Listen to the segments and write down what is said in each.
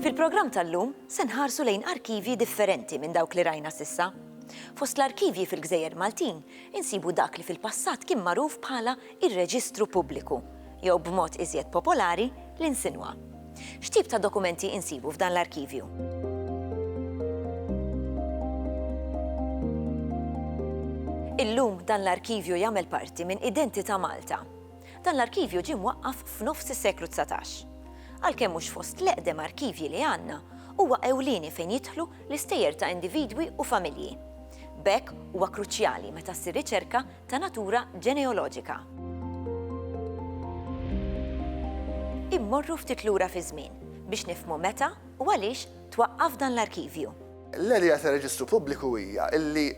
Fil-programm tal-lum se nħarsu lejn arkivji differenti minn dawk li rajna sissa. Fost l-arkivji fil-Gżejjer Maltin insibu dak li fil-passat kien magħruf bħala ir-Reġistru Pubbliku, jew b'mod iżjed popolari l-insinwa. X'tip ta' dokumenti insibu f'dan l-arkivju? Illum dan l-arkivju jagħmel parti minn Identità Malta. Dan l-arkivju ġie mwaqqaf f'nofs is-seklu 19. Għalkemm mhux fost l-eqdem arkivji li għandna, huwa ewlieni fejn jidħlu l-istejjer ta' individwi u familji. B'hekk huwa kruċjali meta ssir riċerka ta' natura ġeneoloġika. Immorru ftit lura fiż-żmien biex nifhmu meta u għaliex twaqqaf dan l-arkivju. L-idea ta' reġistru pubbliku hija li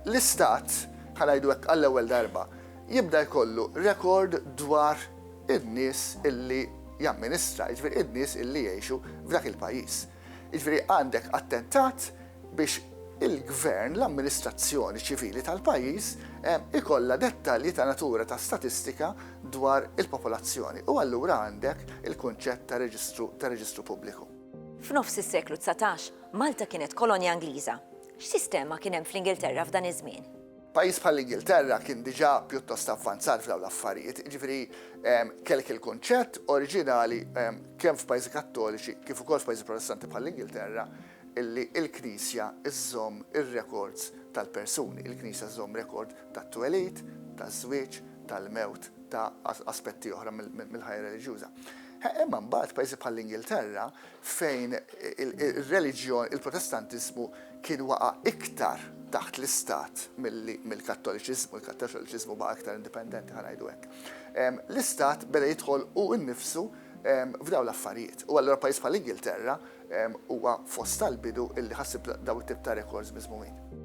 l-Istat, ħa ngħidu hekk għall-ewwel darba, jibda jkollu rekord dwar in-nies li jamministra, jiġifieri n-nies li jgħixu f'dak il-pajjiż. Jiġifieri għandek attentat biex il-gvern, l-amministrazzjoni ċivili tal-pajjiż ikollha dettalji ta' natura ta' statistika dwar il-popolazzjoni u allura għandek il-kunċett ta' reġistru ta' reġistru pubbliku. F'nofs is-seklu dsatax, Malta kienet kolonja Ingliża. X'sistema kien hemm fl-Ingilterra f'dan iż-żmien? Pajjiż bħall-Ingilterra kien diġà pjuttost avvanzat f'dawn l-affarijiet, jiġifieri kellek il-kunċett oriġinali kemm f'pajjiżi Kattoliċi kif ukoll f'pajjiżi Protestanti bħall-Ingilterra illi l-Knisja żżomm ir-rekords tal-persuni, il-Knisja żżomm rekord tat-twelid, taż-żwieġ, tal-mewt, ta' aspetti oħra mill-ħajja reliġjuża. Imma mbagħad pajjiżi bħall-Ingilterra fejn ir-reliġjon, il-Protestantiżmu kien waqa' iktar taħt l-istat milli mill-Kattoliċiżmu, il-Kattoliċiżmu baqa' iktar indipendenti, ħa ngħidu hekk, l-istat beda jidħol hu nnifsu f'dawn l-affarijiet. U allura pajjiż bħall-Ingilterra huwa fost tal-bidu li ħassib dawn it-tip ta' rekords miżmumin.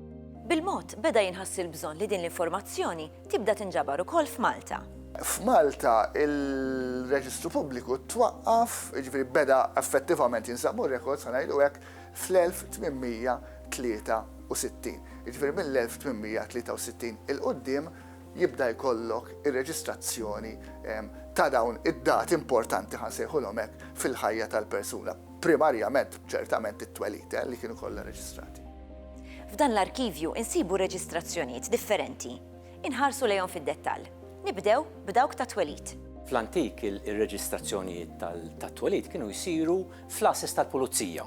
Bil-mod, beda jinħass il-bżonn li din l-informazzjoni tibda tinġabar ukoll f'Malta. F'Malta il-Reġistru Pubbliku twaqqaf, jiġifieri beda effettivament jinsabu rekords ħa ngħidu hekk, fl-1863. Jiġifieri mill-1863 'il quddiem jibda jkollok ir-reġistrazzjoni ta' dawn id-dati importanti, ħa nsejħulhom hekk, fil-ħajja tal-persuna. Primarjament, ċertament, it-twelid, li kienu kollha reġistrati. F'dan l-arkivju insibu reġistrazzjonijiet differenti. Inħarsu lejhom fid-dettall. Nibdew b'dawk tat-twelid. Fl-antik ir-reġistrazzjonijiet tat-twelid kienu jsiru fl-għases tal-pulizija.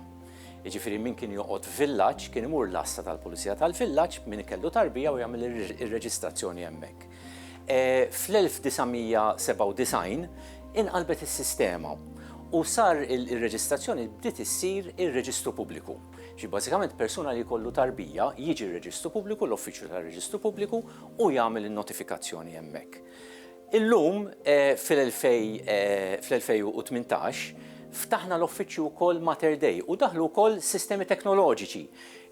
Jiġifieri min kien joqgħod f'villaġġ kien imur l-għassa tal-pulizija tal-villaġġ, min kellu tarbija u jagħmel ir-reġistrazzjoni hemmhekk. Fl-1997 inqalbet is-sistema u sar ir-reġistrazzjoni bdiet issir ir-Reġistru Pubbliku. Ġifieri bażikament persuna li jkollu tarbija jiġi r-Reġistru Pubbliku, l-Uffiċċju tar-Reġistru Pubbliku u jagħmel in-notifikazzjoni hemmhekk. Illum fl-2018 ftaħna l-uffiċċju wkoll Mater Dei u daħlu wkoll sistemi teknoloġiċi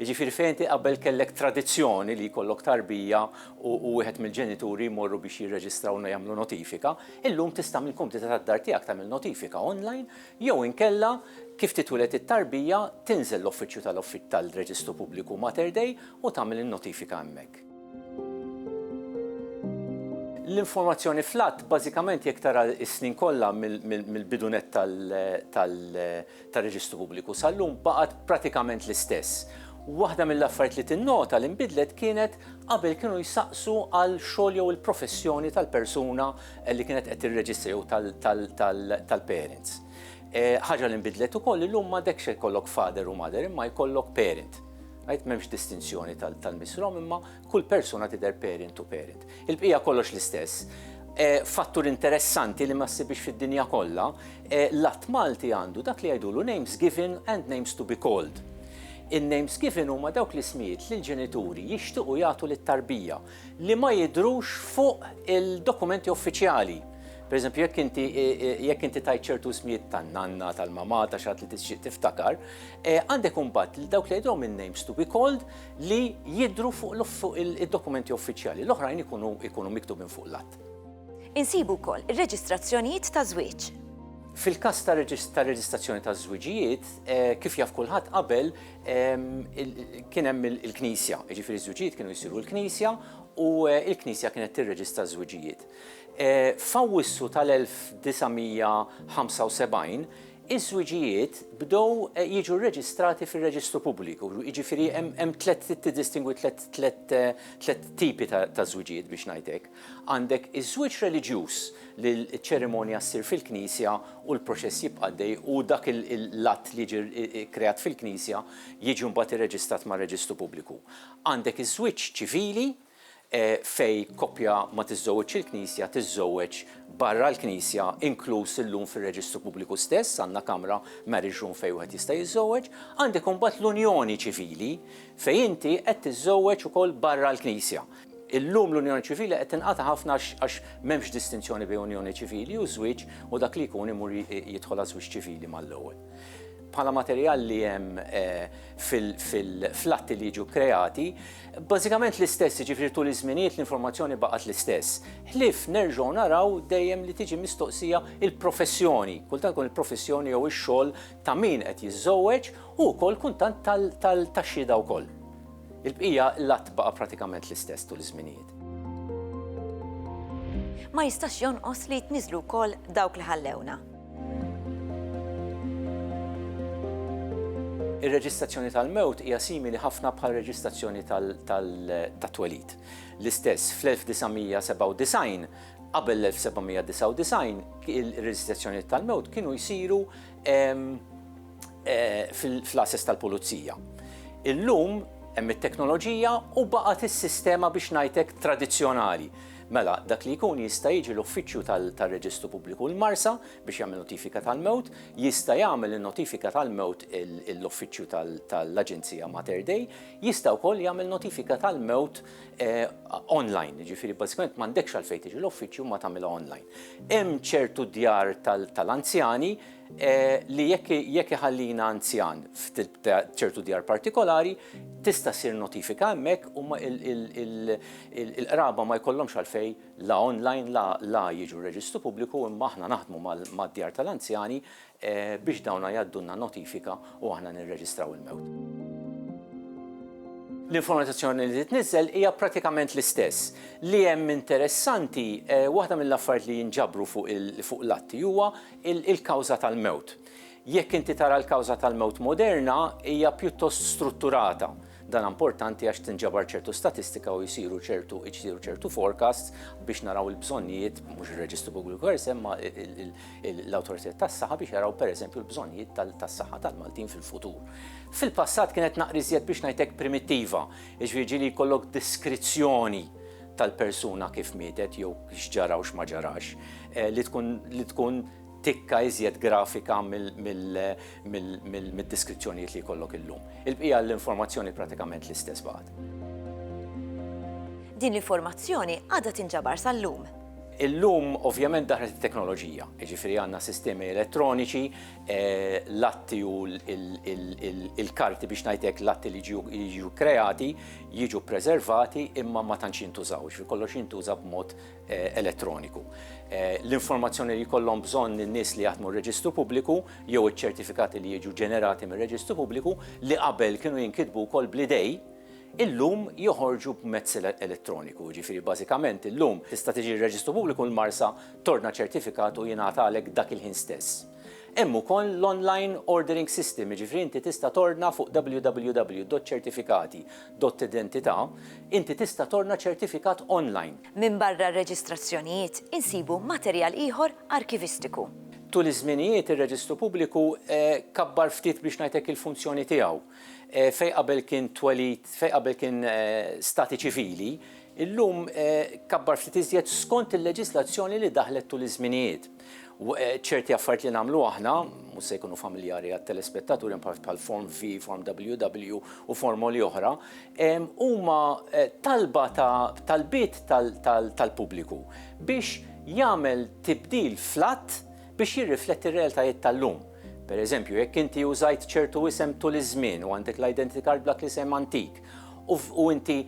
Jiġifieri fejn inti qabel kellek tradizzjoni li jkollok tarbija u wieħed mill-ġenituri jmorru biex jirreġistraw u jagħmlu notifika, illum tista' mill-kumdità tad-dar tiegħek tagħmel notifika online jew inkella kif titwieled it-tarbija tinżel l-uffiċċju tal-Reġistru Pubbliku Mater Dei u tagħmel in-notifika hemmhekk. L-informazzjoni fl-Att bażikament jekk tara s-snin kollha mill-bidu nett tal tar-Reġistru Pubbliku sal-lum baqgħet pratikament l-istess. Waħda mill-affarijiet li tinnota li nbidlet kienet qabel kienu jsaqsu għal xogħol jew il-professjoni tal-persuna li kienet qed tirreġistra jew tal-parents. Ħaġa li nbidlet ukoll illum m'għadekx se jkollok father u mother imma jkollok parent. Right? M'hemmx distinzjoni tal-missrom imma Kull persuna tidher parent u parent. Il-bqija kollox l-istess. Fattur interessanti li ma ssibhiex fid-dinja kollha, l-Att Malti għandu dak li jgħidulu names given and names to be called. In-names given huma dawk l-ismijiet li l-ġenituri jixtiequ jagħtu lit-tarbija li ma jidhrux fuq il-dokumenti uffiċjali. Per eżempju, jekk inti jekk inti tgħid ċertu ismijiet tan-nanna, tal-mamà, ta' xi ħadd li tixtieq tiftakar, għandek imbagħad dawk li jgħidulhom in-names to be called li jidhru fuq id-dokumenti uffiċjali, l-oħrajn ikunu miktubin fuq l-att. Insibu wkoll ir-reġistrazzjonijiet ta' żwieġ. Fil-każ ta' reġistrazzjoni ta' żwiġijiet, kif jaf kulħadd qabel kien hemm il-knisja, jiġifieri ż-żwiġijiet kienu jsiru l-knisja u l-knisja kienet tirreġistra ż-żwiġijiet. F'Awwissu tal-1975, Iż-żwiġijiet bdew jiġu rreġistrati fir-reġistru pubbliku, jiġifieri hemm tliet trid tiddistingwi tliet tliet tliet tipi ta' ta' żwiġijiet biex ngħid hekk. Għandek iż-żwieġ reliġjuż li ċ-ċerimonja ssir fil-knisja u l-proċess jibqa' għaddej u dak l-att li jiġi kkreat fil-knisja jiġi mbagħad irreġistrat mar-reġistru pubbliku. Għandek iż-żwieġ ċivili, Fejn koppja ma tiżżewweġx il-Knisja tiżżewweġ barra l-Knisja, inkluż illum fir-reġistru pubbliku stess għandna kamra, marriage room, fejn wieħed jista' jiżżewweġ. Għandek imbagħad l-unjoni ċivili fejn inti qed tiżżewweġ ukoll barra l-Knisja. Illum l-unjoni ċivili qed tinqata' ħafna għax m'hemmx distinzjoni bejn unjoni ċivili u żwieġ u dak li jkun imur jidħol għaż-żwieġ ċivili mal-ewwel. Bħala materjal li hemm fil-atti li jiġu kkreati, Bażikament l-istess, jiġifieri tul iż-żminijiet l-informazzjoni baqgħet l-istess. Ħlief nerġgħu naraw dejjem li tiġi mistoqsija l-professjoni, kultant tkun il-professjoni jew ix-xogħol ta' min qed jiżżewweġ u wkoll kultant tax-xhieda wkoll. Il-bqija l-għadd baqa' pratikament l-istess tul iż-żminijiet. Ma jistax jonqos li jitniżżlu wkoll dawk li ħallewna. Ir-reġistrazzjoni tal-mewt hija simili ħafna bħar-reġistrazzjoni tat-twelid. L-istess, fl-1997, qabel l-1799, ir-reġistrazzjonijiet tal-mewt kienu jsiru ehm, eh, fl-ases tal-pulizija. Illum hemm it-teknoloġija u baqgħet is-sistema biex ngħidlek tradizzjonali. Mela, dak li jkun jista' jiġi l-uffiċċju tar-Reġistru Pubbliku l-Marsa biex jagħmel notifika tal-mewt, jista' jagħmel in-notifika tal-mewt l-uffiċċju tal-Aġenzija Mater Dei, jista' wkoll jagħmel notifika tal-mewt online, jiġifieri bażikament m'għandekx għalfejn tiġi l-uffiċċju imma tagħmilha online. Hemm ċertu djar tal-anzjani li jekk iħallina anzjan f'ċertu djar partikolari, tista' ssir notifika hemmhekk u l-qraba ma jkollhomx għalfejn la online la jiġu r-Reġistru Pubbliku imma aħna naħdmu mad-djar tal-anzjani biex dawna jgħaddulna notifika u aħna nirreġistraw il-mewt. L-informazzjoni li titniżżel hija prattikament l-istess. Li hemm interessanti, waħda mill-affarijiet li jinġabru fuq l-atti huwa Il-kawża tal-mewt. Jekk inti tara l-kawża tal-mewt moderna, hija pjuttost strutturata. Dan importanti għax tinġabar ċertu statistika u jsiru ċertu jsiru ċertu forecasts biex naraw il-bżonnijiet, mhux ir-Reġistru Pubbliku Kors imma l-awtoritajiet tas-saħħa biex jaraw pereżempju l-bżonnijiet tas-saħħa tal-Maltin fil-futur. Fil-passat kienet naqra iżjed biex ngħidlek primittiva, jiġifieri ġieli jkollok deskrizzjoni tal-persuna kif mietet jew x'ġara u x'ma ġarax, li tkun li tkun tikka iżjed grafika mid-deskrizzjonijiet li jkollok illum. Il-bqija l-informazzjoni pratikament l-istess baqgħet. Din l-informazzjoni għadha tinġabar sal-lum. Illum ovvjament daħlet it-teknoloġija, jiġifieri għandna sistemi elettroniċi, l-atti u l-karti biex ngħidlek l-atti li jiġu kreati, jiġu ppreservati imma ma tantx jintużaw, jiġifieri kollox jintuża b'mod elettroniku. L-informazzjoni li jkollhom bżonn in-nies li jaħdmu r-Reġistru Pubbliku jew iċ-ċertifikati li jiġu ġenerati mir-Reġistru Pubbliku li qabel kienu jinkitbu wkoll bl-idej, illum joħorġu b'mezz elettroniku. Jiġifieri bażikament illum tista' tiġi r-Reġistru Pubbliku l-Marsa, tordna ċertifikat u jingħatalek dak il-ħin stess. Hemm ukoll l-online ordering system, jiġifieri inti tista' tordna fuq www.ċertifikati.identità, inti tista' tordna ċertifikat online. Minbarra r-reġistrazzjonijiet, insibu materjal ieħor arkivistiku. Tul iż-żminijiet ir-Reġistru Pubbliku kabbar ftit biex ngħidlek il-funzjoni tiegħu. Fejn qabel kien twelid, fejn qabel kien stati ċivili, illum kabbar ftit iżjed skont il-leġislazzjoni li daħlet tul iż-żminijiet. ċerti affarijiet li nagħmlu aħna, mhux se jkunu familjari għat-telespettaturi bħal Form V, Form WW u formoli oħra, huma talba ta' talbiet tal-pubbliku biex jagħmel tibdil fl-att biex jirrifletti r-realtajiet tal-lum. Per eżempju, jekk inti użajt ċertu isem tul iż-żmien u għandek l-identity card b'dak l-isem antik, u inti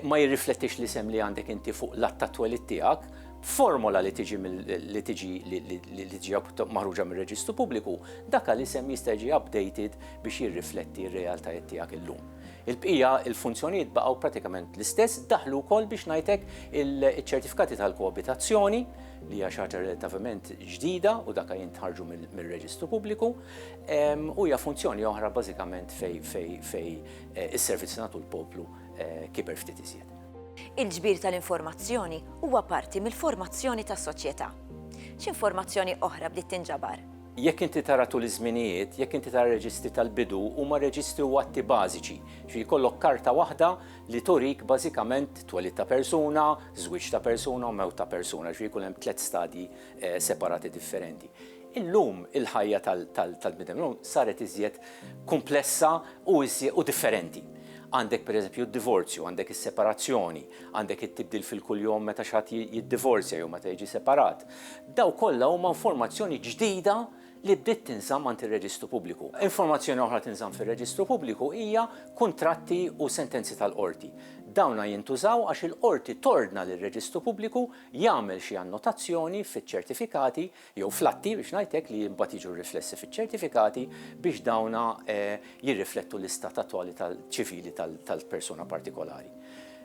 ma jirriflettix l-isem li għandek inti fuq l-att ta' twelid tiegħek, b'formola li tiġi li tiġi li tiġi maħruġa mir-Reġistru Pubbliku, dak l-isem jista' jiġi updated biex jirrifletti r-realtajiet tiegħek illum. Il-bqija, il-funzjonijiet baqgħu pratikament l-istess, daħlu wkoll biex ngħidlek iċ-ċertifikati tal-koabitazzjoni, li hija xi ħaġa relattivament ġdida u dak jintħarġu mir-Reġistru Pubbliku, u hija funzjoni oħra bażikament fejn Is-servizz li nagħtu l-poplu kiber ftit iżjed. Il-ġbir tal-informazzjoni huwa parti mill-formazzjoni tas-soċjetà. X'informazzjoni oħra bdiet tinġabar? Jekk inti tara tul iż-żminijiet, jekk inti tara reġistri tal-bidu, huma reġistri u atti bażiċi. Ġifieri jkollok karta waħda li turik bażikament twelid ta' persuna, żwieġ ta' persuna u mewt ta' persuna, ġifieri jkun hemm tliet stadji eh, separati differenti. Illum il-ħajja tal-bniedem illum saret iżjed kumplessa u iżjed u differenti. Għandek pereżempju d-divorzju, għandek is-separazzjoni, għandek it-tibdil fil-kuljom meta xi ħadd jiddivorzja jew meta jiġi separat. Dawn kollha huma informazzjoni ġdida li bdiet tinżamm għand ir-Reġistru Pubbliku. Informazzjoni oħra tinżamm fir-Reġistru Pubbliku hija kuntratti u sentenzi tal-qorti. Dawna jintużaw għax il-qorti tordna lir-Reġistru Pubbliku jagħmel xi annotazzjoni fiċ-ċertifikati jew fl-atti biex ngħid hekk li mbagħad jiġu riflessi fiċ-ċertifikati biex dawn jirriflettu l-istat attwali ċivili tal-persuna partikolari.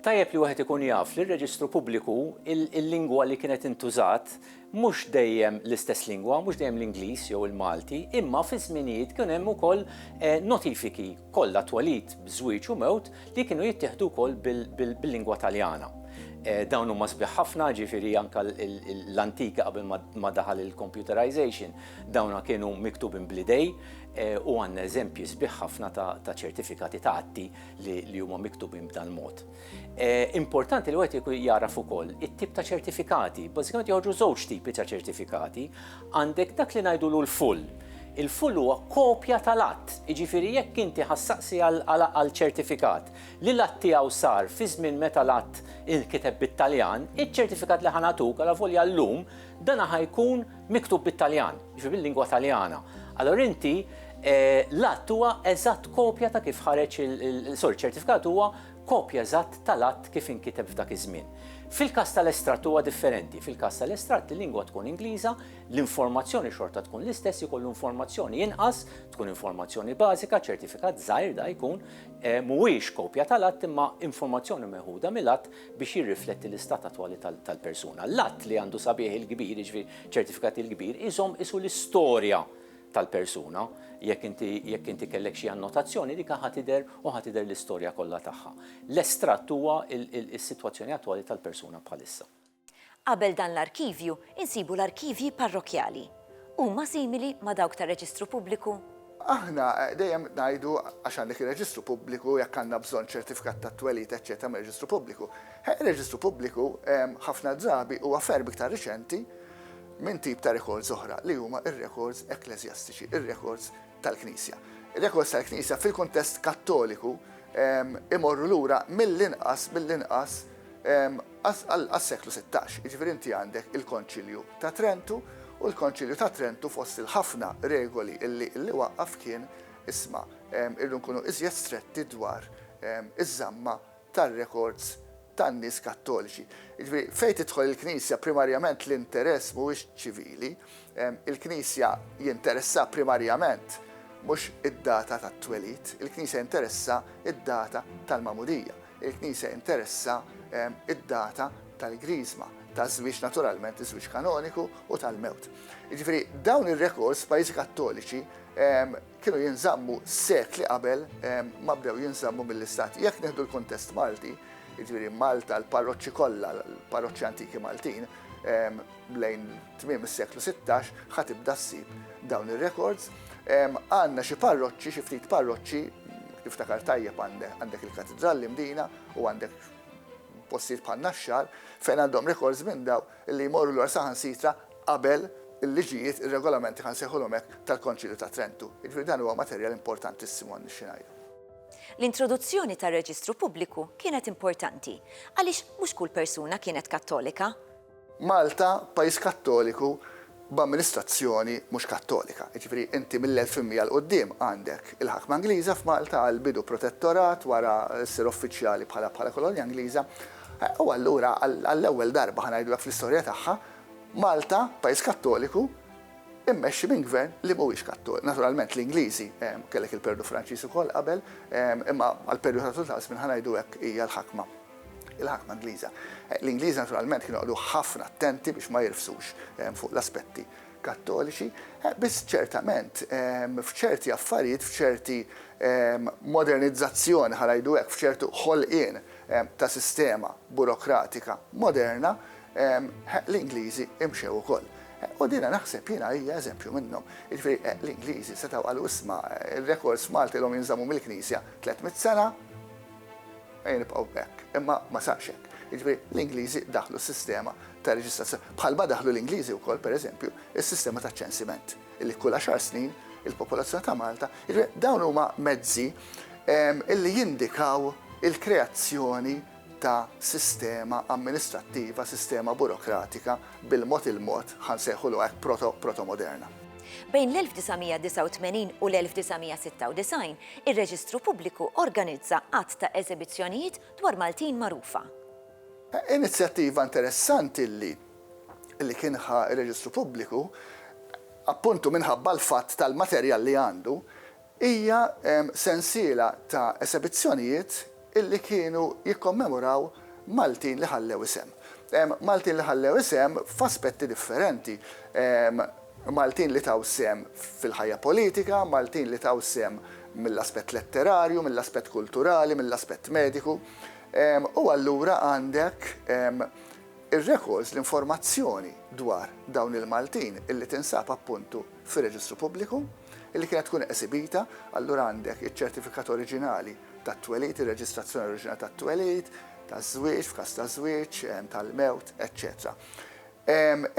Tajjeb li wieħed ikun jaf li r-reġistru pubbliku l-lingwa li kienet intużat mhux dejjem l-istess lingwa, mhux dejjem l-Ingliż jew il-Malti, imma fi żminijiet kien hemm ukoll notifiki. kollha twelid b'żwieġ u mewt li kienu jittieħdu wkoll bil-lingwa Taljana. Dawn huma sbieħ ħafna, jiġifieri anke l-antika qabel ma daħal il-computerization, dawn kienu miktubin bl-idej u għandna eżempji sbieħ ħafna ta' ċertifikati ta' atti li huma miktubin b'dal-mod. Importanti li wieħed jkun jagħraf ukoll it-tip ta' ċertifikati. Bażikament joħorġu żewġ tipi ta' ċertifikati. Għandek dak li ngħidulu l-full. Il-full huwa kopja tal-att, jiġifieri jekk inti ħassaqsi għal ċertifikat li l-att tiegħu sar fi żmien meta l-att inkiteb bit-Taljan, iċ-ċertifikat li ħa nagħtuk, alavolja llum, dan ħa jkun miktub bit-Taljan, jiġifieri bil-lingwa Taljana. Allura inti l-att huwa eżatt kopja ta' kif ħareġ il-sorry, ċertifikat huwa kopja eżatt tal-att kif inkiteb f'dak iż-żmien. Fil-każ tal-estratt huwa differenti, fil-każ tal-estratt il-lingwa tkun Ingliża, l-informazzjoni xorta tkun l-istess, ikollu informazzjoni inqas, tkun informazzjoni bażika, ċertifikat żgħir da jkun, mhuwiex kopja tal-att imma informazzjoni meħuda mill-att biex jirrifletti l-istat attwali tal-persuna. L-att li għandu sabiegħ il-kbir, jiġifieri ċertifikat il-kbir, iżomm qisu l-istorja tal-persuna, jekk inti jekk inti kellek xi annotazzjoni, dik ħa tidher u ħa tidher l-istorja kollha tagħha. L-estratt huwa s-sitwazzjoni attwali tal-persuna bħalissa. Qabel dan l-arkivju, insibu l-arkivji parrokkjali. Huma simili ma' dawk tar-reġistru pubbliku? Aħna dejjem ngħidu, għax għandek ir-reġistru pubbliku, jekk għandna bżonn ċertifikat tat-twelid, eċċetera mir-reġistru pubbliku. Ir-reġistru pubbliku ħafna drabi huwa ferm iktar riċenti minn tip ta' rekords oħra li huma r-rekords ekkleżjastiċi, ir-rekords tal-Knisja. Ir-rekords tal-Knisja fil-kuntest Kattoliku imorru lura mill-inqas mill-inqas għas-seklu 16, jiġifieri inti għandek il-Konċilju ta' Trentu u l-Konċilju ta' Trentu fost il-ħafna regoli li waqqaf kien isma' irdu nkunu iżjed stretti dwar iż-żamma tar-rekords tan-nies Kattoliċi. Jiġifieri, fejn tidħol il-Knisja, primarjament l-interess mhuwiex ċivili. Il-Knisja jinteressha primarjament mhux id-data tat-twelid. Il-Knisja jinteressha d-data tal-magħmudija. Il-Knisja jinteressha d-data tal-Griżma, taż-żwieġ naturalment, iż-żwieġ kanoniku, u tal-mewt. Jiġifieri, dawn ir-rekords f'pajjiżi Kattoliċi kienu jinżammu sekli qabel ma bdew jinżammu mill-Istat. Jekk nieħdu l-kuntest Malti, jiġifieri Malta, l-parroċċi kollha, l-parroċċi antiki Maltin, lejn tmiem is-seklu sittax ħa tibda ssib dawn ir-rekords. Għandna xi parroċċi, xi ftit parroċċi, niftakar tajjeb għandek il-Katidral l-Imdina u għandek postijiet bħal Naxxar fejn għandhom rekords minn dawn. li jmorru lura saħansitra qabel il-liġijiet, ir-regolamenti, ħa nsejħulhom hekk, tal-Konċilju ta' Trentu. Jiġifieri dan huwa materjal importantissimu għal nixxi ngħidu. L-introduzzjoni tar-reġistru pubbliku kienet importanti għaliex mhux kull persuna kienet Kattolika. Malta, pajjiż Kattoliku, b'amministrazzjoni mhux Kattolika. Jiġifieri inti mill-1100 'l quddiem għandek il-ħakma Ingliża f'Malta għall-bidu protettorat wara ssir uffiċjali bħala bħala kolonja Ingliża. U allura għall-ewwel darba ħa ngħidulek fl-istorja tagħha Malta, pajjiż Kattoliku, immexxi minn gvern li mhuwiex Kattoliku. Naturalment l-Ingliżi, kellek il-perjodu Franċiż ukoll qabel, imma għall-perjodu tul ta' żmien ħa ngħidu hekk hija l-ħakma. il-ħakma Ingliża. L-Ingliżi naturalment kienu joqogħdu ħafna attenti biex ma jirfsux fuq l-aspetti kattoliċi, biss ċertament f'ċerti affarijiet, f'ċerti modernizzazzjoni ħa ngħidu hekk, f'ċertu ħolqien ta' sistema burokratika moderna, l-Ingliżi imxew ukoll. U din naħseb jiena hija eżempju minnhom. Jiġifieri l-Ingliżi setgħu qalu isma' r-rekords Malti l-hom jinżammu mill-Knisja 300 sena, Ejja nibqgħu b'hekk. Imma ma sarx hekk. Jiġifieri l-Ingliżi daħħlu s-sistema ta' reġistrazzjoni, bħalma daħħlu l-Ingliżi wkoll, per eżempju, is-sistema taċ-ċensiment, li kull għaxar snin il-popolazzjoni ta' Malta, jiġifieri dawn huma mezzi li jindikaw il-kreazzjoni ta' sistema amministrattiva, sistema burokratika bil-mod il-mod, ħa nsejħulu hekk, proto-proto-moderna. Bejn l-1989 u l-1996, Ir-Reġistru Pubbliku organizza għadd ta' eżebizzjonijiet dwar Maltin magħrufa. Inizjattiva interessanti li li kien ħa r-Reġistru Pubbliku, appuntu minħabba l-fatt tal-materjal li għandu, hija sensiela ta' esebizzjonijiet illi kienu jikkommemoraw Maltin li ħallew isem. Maltin li ħallew isem f'aspetti differenti. Maltin li taw sehem fil-ħajja politika, Maltin li taw sehem mill-aspett letterarju, mill-aspett kulturali, mill-aspett mediku. U allura għandek ir-rekords, l-informazzjoni dwar dawn il-Maltin illi tinsab appuntu fir-Reġistru Pubbliku, illi kienet tkun esibita, allura għandek iċ-ċertifikat oriġinali tat-twelid, ir-reġistrazzjoni oriġinali tat-twelid, taż-żwieġ, f'każ ta' żwieġ, tal-mewt, eċċetera.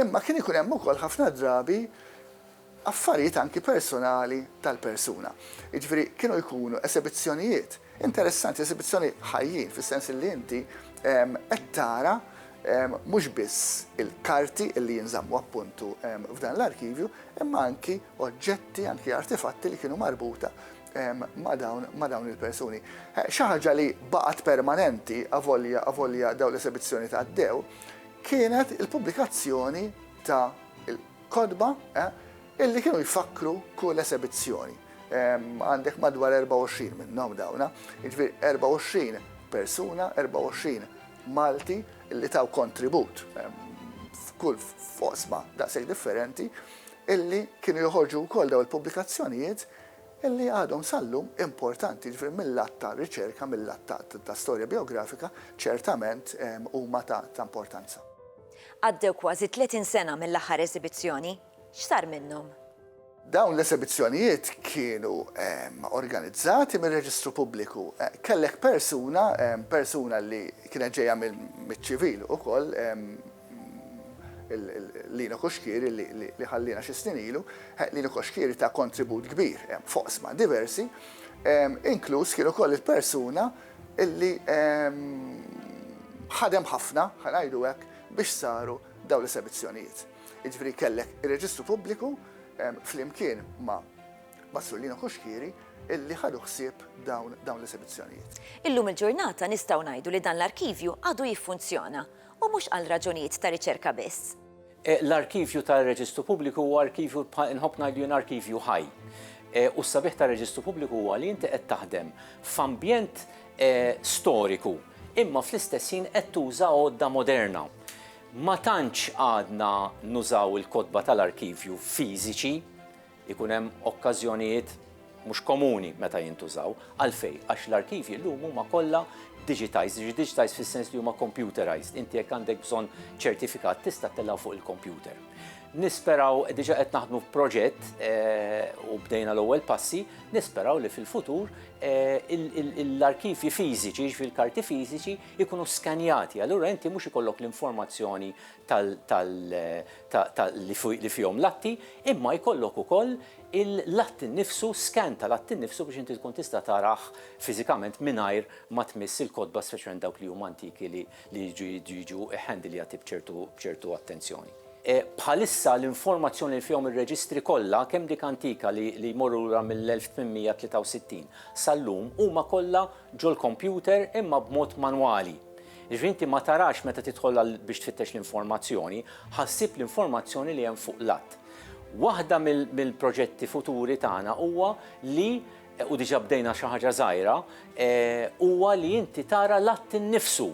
Imma kien ikun hemm ukoll ħafna drabi affarijiet anki personali tal-persuna. Jiġifieri kienu jkunu esebizzjonijiet interessanti, esebizzjoni ħajjin, fis-sens li inti qed tara mhux biss il-karti li jinżammu appuntu f'dan l-arkivju, imma anki oġġetti, anki artefatti li kienu marbuta ma' dawn il-persuni. Eh, xi ħaġa li baqgħet permanenti avolja avolja dawn l-esebizzjoni ta' dew kienet il-pubblikazzjoni ta' il-kodba eh, illi kienu jfakkru kull esebizzjoni. Għandek madwar 24 minnhom dawna, jiġifieri 24 persuna, 24 Malti illi taw kontribut f'kull fosma daqshekk differenti illi kienu joħorġu wkoll daw il-pubblikazzjonijiet li għadhom sal-lum importanti, jiġifieri mil-lat ta' riċerka, mil-lat ta' ta' storja bijografika, ċertament huma ta' ta' importanza. Għaddew kważi tletin sena mill-aħħar eżibizzjoni. X'sar minnhom? Dawn l-eżibizzjonijiet kienu organizzati mir-Reġistru Pubbliku. Kellek persuna, persuna li kienet ġejja mill-ċivil ukoll, Lino Cuschieri li ħalliena xi snin ilu, Lino Cuschieri ta kontribut kbir f'oqsma diversi, inkluż kien ukoll il-persuna li ħadem ħafna, ħa ngħidu hekk, biex saru dawn l-esebizzjonijiet. Jiġifieri kellek ir-Reġistru Pubbliku flimkien ma' Sur Lino Cuschieri li ħadu ħsieb dawn l-esebizzjonijiet. Illum il-ġurnata nistgħu ngħidu li dan l-arkivju għadu jiffunzjona u mhux għal raġunijiet ta' riċerka biss. L-arkivju tar-Reġistru Pubbliku huwa arkivju bħal, inħobb ngħid li jien arkivju ħaj. U s-sabiħ tar-Reġistru Pubbliku huwa li inti qed taħdem f'ambjent storiku imma fl-istess ħin qed tuża għodda moderna. Ma tantx għadna nużaw il-kotba tal-arkivju fiżiċi. Ikun hemm okkażjonijiet mhux komuni meta jintużaw. Għalfejn? Għax l-arkivji llum huma kollha digitized, jiġifieri digitized fis-sens li huma computerized. Inti jekk għandek bżonn ċertifikat tista' ttellgħu fuq il-kompjuter. Nisperaw, diġà qed naħdmu f'proġett u bdejna l-ewwel passi, nisperaw li fil-futur l-arkivji fiżiċi, jiġifieri l-karti fiżiċi, ikunu skanjati. Allura inti mhux ikollok l-informazzjoni li fihom l-atti, imma jkollok ukoll il-att innifsu, scan tal-att innifsu biex inti tkun tista' tarah fiżikament mingħajr ma tmiss il-kotba speċjalment dawk li huma antiki li jridu jiġu handlijati b'ċertu attenzjoni. Bħalissa l-informazzjoni li fihom ir-reġistri kollha, kemm dik antika li jmorru lura mill-1863 sal-lum, huma kollha ġol-kompjuter imma b'mod manwali. Jiġifieri inti ma tarax meta tidħol għal biex tfittex l-informazzjoni, ħa ssib l-informazzjoni li hemm fuq l-att. Waħda mill-proġetti futuri tagħna huwa li, u diġà bdejna xi ħaġa żgħira, huwa li inti tara l-att innifsu.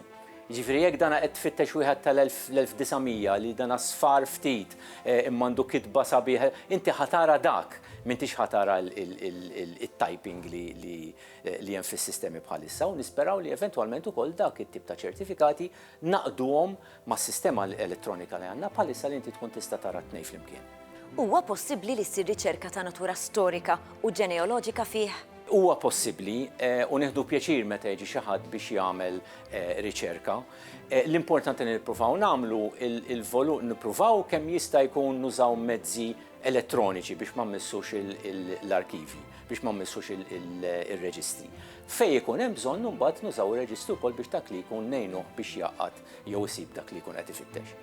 Jiġifieri jekk dan qed tfittex wieħed tal-1900 li dan sfar ftit imma għandu kitba sabiħa, inti ħa tara dak, m'intix ħa tara t-typing li, li hemm fis-sistemi bħalissa u nisperaw li eventwalment ukoll dak it-tip ta' ċertifikati nagħqduhom mas-sistema elettronika li għandna bħalissa li inti tkun tista' tara t-tnejn flimkien. Huwa possibbli li ssir riċerka ta' natura storika u ġeneoloġika fih? Huwa possibbli u nieħdu pjaċir meta jiġi xi ħadd biex jagħmel riċerka. L-importanti li nippruvaw nagħmlu, nippruvaw kemm jista' jkun nużaw mezzi elettroniċi biex ma mmissux l-arkivji, biex ma mmissux ir-reġistri. Fejn ikun hemm bżonn imbagħad nużaw ir-reġistru wkoll biex dak li jkun ngħinuh biex jgħaqqad jew isib dak li jkun qed ifittex.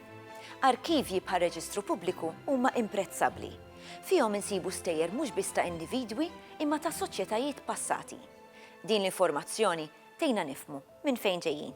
Arkivji bħal reġistru pubbliku huma imprezzabbli. Fihom insibu stejjer mhux biss ta' individwi imma ta' soċjetajiet passati. Din l-informazzjoni tgħinna nifhmu minn fejn ġejjin.